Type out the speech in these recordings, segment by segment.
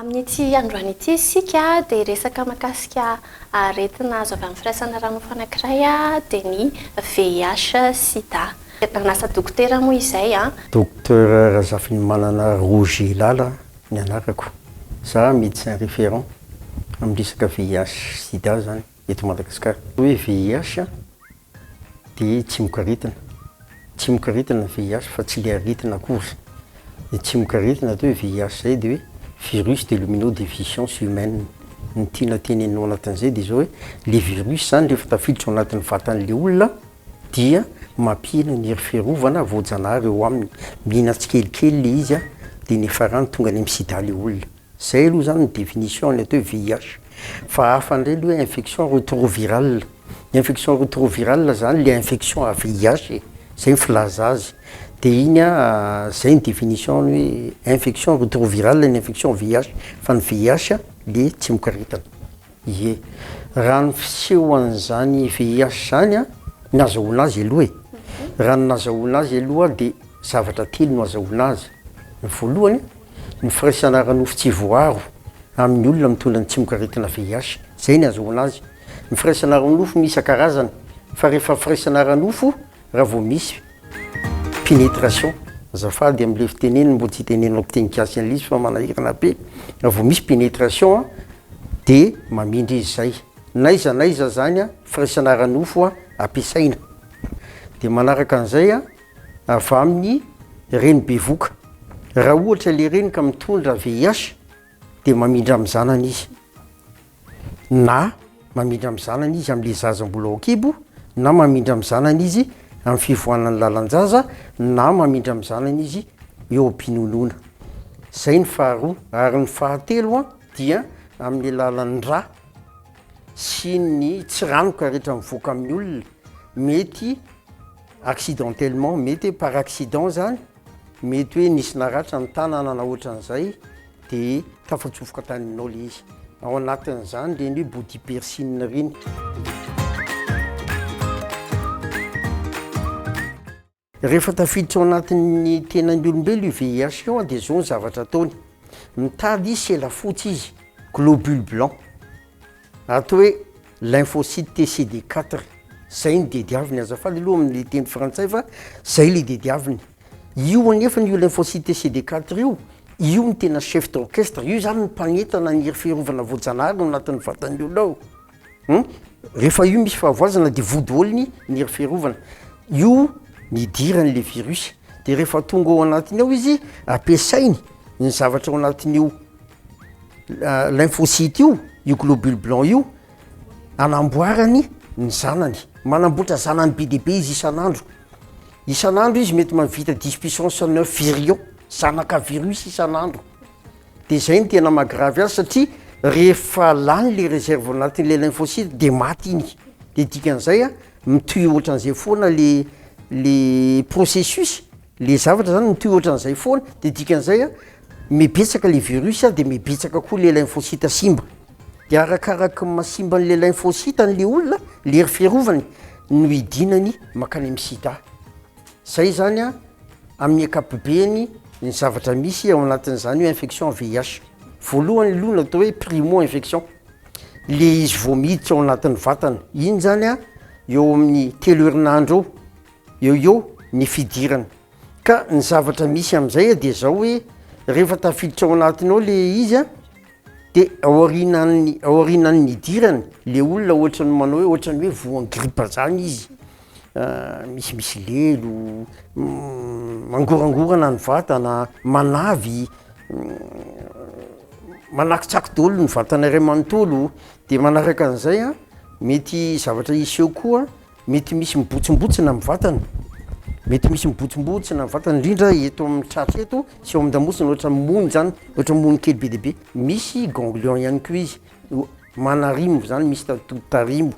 Amin'ity androany ity isika dia hiresaka mahakasika aretina azo avy amin'ny firaisana ara-nofo anankiray dia ny VIH, sida. Nanasa dokotera moa izay. Dokotera Razafinimanana Roger Lala Ny anarako, za médecin référent amin'ny resaka VIH sida zany eto Madagasikara. Ny hoe VIH dia tsimokaretina, tsimokaretina ny VIH fa tsy le aretina akory. Ny tsimokaretina atao hoe VIH zay dia hoe virus de l'homino deficience humaine. Ny tiana tenenina ao anatin'izay dia zao hoe le virus zany rehefa tafiditra ao anatin'ny vatan'le olona, dia mampihena ny hery fiarovana voajanahary eo aminy, mihinana tsikelikely le izy de nefarany tonga any am sida le olona, zay aloha zany ny definition ny atao hoe VIH, fa hafa indray le hoe infection retroviral, ny infection retroviral zany le infection à VIH e, zay ny filaza azy, de iny a zay ny definition ny hoe infection retroviral ny infection VIH, fa ny VIH le tsy mikaretina. Ie. Raha ny fisehoan'izany VIH izany an, ny azahoana azy aloha e, raha ny nazahoana azy aloha dia zavatra telo no azahoana azy, ny voalohany, ny firaisana ara-nofo tsy voaaro amin'ny olona mitondra ny tsimokaretina VIH, izay ny azahoana azy, ny firaisana ara-nofo no isan-karazany, fa rehefa firaisana ara-nofo, Raha vao misy pénétration. Azafady amin'ilay fiteneniny mbola tsy tenenina fiteny gasy an'ilay izy fa manahirana be. Raha vao misy pénétration an, dia mamindra izy izay. N'aiza n'aiza izany an, firaisana ara-nofo an, ampiasaina. Dia manaraka an'izay an, avy amin'ny reny bevoka. Raha ohatra ilay reny ka mitondra VIH. dia mamindra amin'ny zanany izy na mamindra amin'ny zanany izy amin'ilay zaza mbola ao an-kibo na mamindra amin'ny zanany izy amin'ny fivoanan'ny lalan-jaza na mamindra amin'ny zanany izy eo am-pinonoana izay ny faharoa ary ny fahatelo a dia amin'ny alalan'ny ra sy ny tsy ranoka rehetra mivoaka amin'ny olona mety accidentellement mety hoe par accident zany Mety hoe nisy naratra ny tanana na ohatran'izay dia tafatsofoka tany aminao ilay izy. Ao anatin'izany ireny hoe body piercing ireny. Rehefa tafiditra ao anatin'ny tenan'ny olombelo io VIH io dia izao ny zavatra ataony. Mitady izy sela fotsy izy, globule blanc. Ato hoe lymphocyte T CD quatre zay ny didiaviny, azafady aloha amin'ny teny frantsay fa zay le didiaviny, io anefany io lymphocyte T CD quatre io, io no tena chef d'orchestre, io zany no mpanentana ny hery fiarovana voajanahary ao anatin'ny vatan'ny olona ao hum, rehefa io misy fahavoazana dia vody olony ny hery fiarovana, io no idiran'le virus, de rehefa tonga ao anatiny ao izy ampiasainy ny zavatra ao anatin'io Lymphocytes io, io globule blanc io, anamboarany ny zanany. Manamboatra zanany be dia be izy isan'andro. Isan'andro izy mety mahavita dix puissance neuf virions, zanaka virus isan'andro. Dia izay no tena maha-gravy azy satria rehefa lany ilay réserve anatin'ilay lymphocytes dia maty iny. Dia dikan'izay an, mitohy ohatran'izay foana ilay ilay processus. Le zavatra zany mitohy ohatran'izay foana de dikan'izay a mibetsaka le virus a de mibetsaka koa le lymphocyte simba. De arakaraky ny maha simba an'le lymphocyte an'le olona le hery fiarovany no hidinany mankany amin'ny sida. Zay zany a amin'ny ankapobeny ny zavatra misy ao anatin'izany hoe infection VIH. Voalohany aloha ny atao hoe primo infection le izy vao miditra ao anatin'ny vatana iny zany a eo amin'ny telo herinandro eo Eo eo ny fidirana. Ka ny zavatra misy amin'izay dia izao hoe rehefa tafiditra ao anatiny ao le izy a, dia aorianan'ny aorianan'ny hidirany le olona ohatran'ny manao hoe ohatran'ny hoe voan'ny gripa zany izy, misimisy lelo, mangorangorana ny vatana, manavy, manakitsakitsy daholo ny vatana iray manontolo, de manaraka an'izay a mety zavatra hiseho koa. Mety misy mibotsombotsona amin'ny vatany, mety misy mibotsombotsona ny vatany indrindra eto amin'ny tratra eto sy eo amin-damosina ohatra ny mony zany, ohatra ny mony kely be dia be, misy ganglion ihany koa izy no manarimo zany, misy atody tarimo,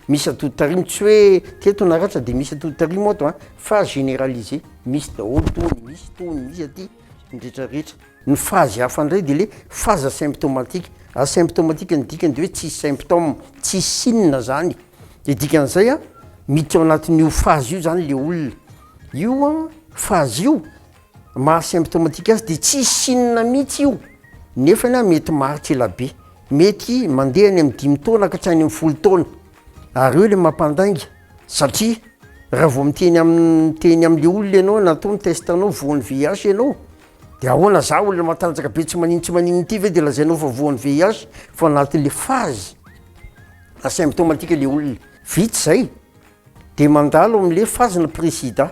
misy atody tarimo tsy hoe teto naratra de misy atody tarimo ato a, fa generalisé, misy daholo tony, misy tony, misy aty. indritraritra. Ny fazy hafa indray dia ilay fazy asymptomatique. Asymptomatique ny dikany dia hoe tsisy symptôme, tsisy signe zany. Dia dikan'izay an, miditra ao anatin'io fazy io zany ilay olona. Io an, fazy io, maha asymptomatique azy dia tsisy signe mihitsy io, nefany an, mety maharitra ela be. Mety mandeha any amin'ny dimy taona ka hatrany amin'ny folo taona. Ary eo ilay mampandainga. Satria raha vao miteny amin'ny miteny amin'ilay olona ianao na atao ny test anao voan'ny VIH ianao de ahoana za olona matanjaka be tsy manino tsy manino ity ve de lazainao fa voan'ny VIH fa anatin'ilay phase asymptomatique ilay olona vita izay de mandalo amin'ilay phase-na pré-sida.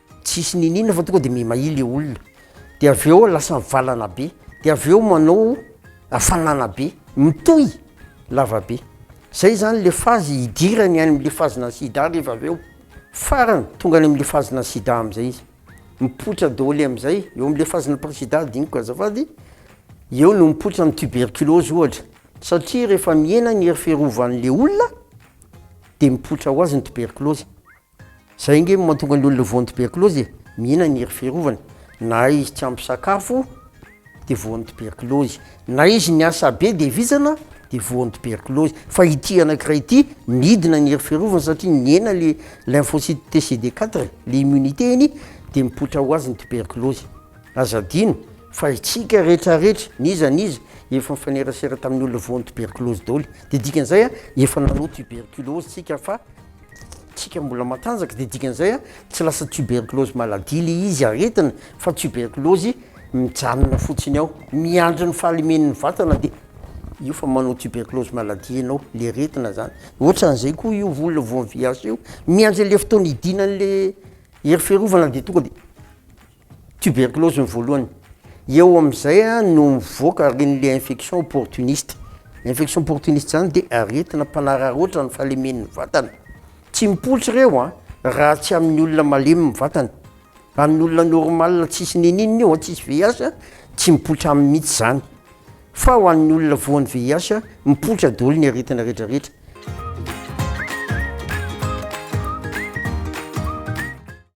Tsisy niniana fa tonga de mimaia le olona de avy eo lasa mivalana be de avy eo manao hafanana be mitohy lava be zay zany le fazy hidirany any amle fazina sida rehefa avy eo farany tonga any amle fazina sida amzay izy mipoitra daoly amzay eo amle fazina presida adinoko azafady eo no mipoitra ny tuberculose ohatra satria rehefa mihena ny hery fiarovanle olona de mipoitra ho azy ny tuberculose. Zay nge mantonga ny olona voan'ny tuberculose e, mihinana ery fiarovana, na izy tsy ampy sakafo de voan'ny tuberculose, na izy niasa be de vizana de voan'ny tuberculose, fa ity anakiray ity midina ny hery fiarovana satria nihena le lymphocyte TCD quatre, le immunité iny de mipoitra ho azy ny tuberculose, aza adino fa itsika rehetra rehetra n'iza n'iza efa mifanerasera tamin'ny olona voan'ny tuberculose daoly, de dikan'izay efa nanao tuberculose tsika fa. tsika mbola matanjaka dia dikan'izay tsy lasa tuberculose maladie le izy aretina fa tuberculose mijanona fotsiny ao miandry ny fahalemen'ny vatana dia io fa manao tuberculose maladie ianao le aretina zany ohatran'izay koa io olona voan'ny VIH io miandry an'le fotoana hidinan'le hery fiarovana dia tonga dia Tuberculose ny voalohany, eo amin'izay no mivoaka ary iny le infection opportuniste, infection opportuniste zany de aretina mpanararaotra ny fahalemen'ny vatana, tsy mipoitra ireo an, raha tsy amin'ny olona malemy ny vatany, amin'ny olona normal tsisy n'inon'inona io an, tsisy VIH an, tsy mipoitra aminy mihitsy zany, fa ho an'ny olona voan'ny VIH mipoitra daholo ny aretina retraretra.